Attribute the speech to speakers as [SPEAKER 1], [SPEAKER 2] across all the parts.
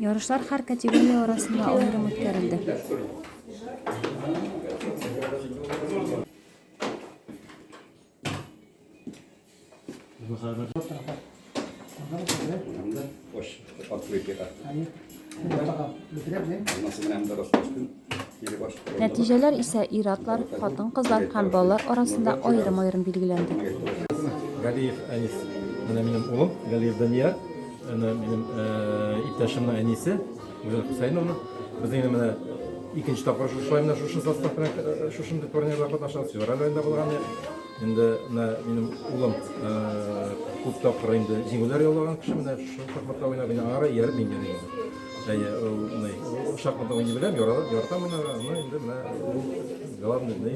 [SPEAKER 1] Ярышлар
[SPEAKER 2] һәр категория арасында аерым үткәрелде. Anda, Нәтиҗәләр исә ир-атлар, хатын-кызлар һәм балалар арасында аерым-аерым билгеләнде. Галиев
[SPEAKER 3] Әнис, менә минем улым, Галиев Данияр, менә минем иптәшемнең әнисе, Гүзәл Хөсәеновна. Без инде менә икенче тапкыр шушылай менә шушы состав белән шушындый турнирларда катнашабыз. Февраль аенда булган инде менә минем улым күп тапкыр инде җиңүләр яулаган кеше, менә шушы шахматта уйнап, аңа да ияреп мин дә иярдем. Әйе, ул ни, шахмат уйный беләм, яратам, яратам аны, аны инде менә ул главный ни,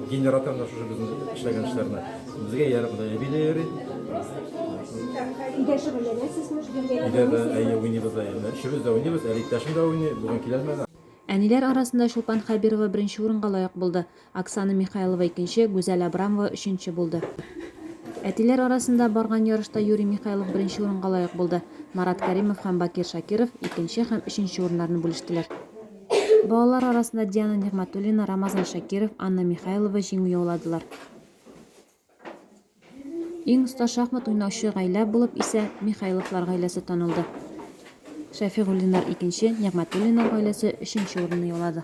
[SPEAKER 3] генераторны шушы безнең эшләгән эшләрне. Безгә ярып да әби дә йөри. Өйдә шөгыльләнәсезме?
[SPEAKER 4] Өйдә дә әйе
[SPEAKER 3] уйныйбыз да инде. Өчебез дә уйныйбыз, әле иптәшем дә уйный, бүген килә алмады. Әниләр арасында
[SPEAKER 2] Чулпан Хәбирова беренче урынга лаек булды. Оксана Михайлова икенче, Гүзәл Абрамова өченче булды. Әтиләр арасында барган ярышта Юрий Михайлов беренче урынга лаек булды. Марат Кәримов һәм Бакир Шакиров икенче һәм өченче урыннарны бүлештеләр. Балалар арасында Диана Нигъмәтуллина, Рамазан Шакиров, Анна Михайлова җиңү яуладылар. Иң оста шахмат уйнаучы гаилә булып исә Михайловлар гаиләсе танылды. Шәфигуллиннар икенче, Нигъмәтуллиннар гаиләсе өченче урынны яулады.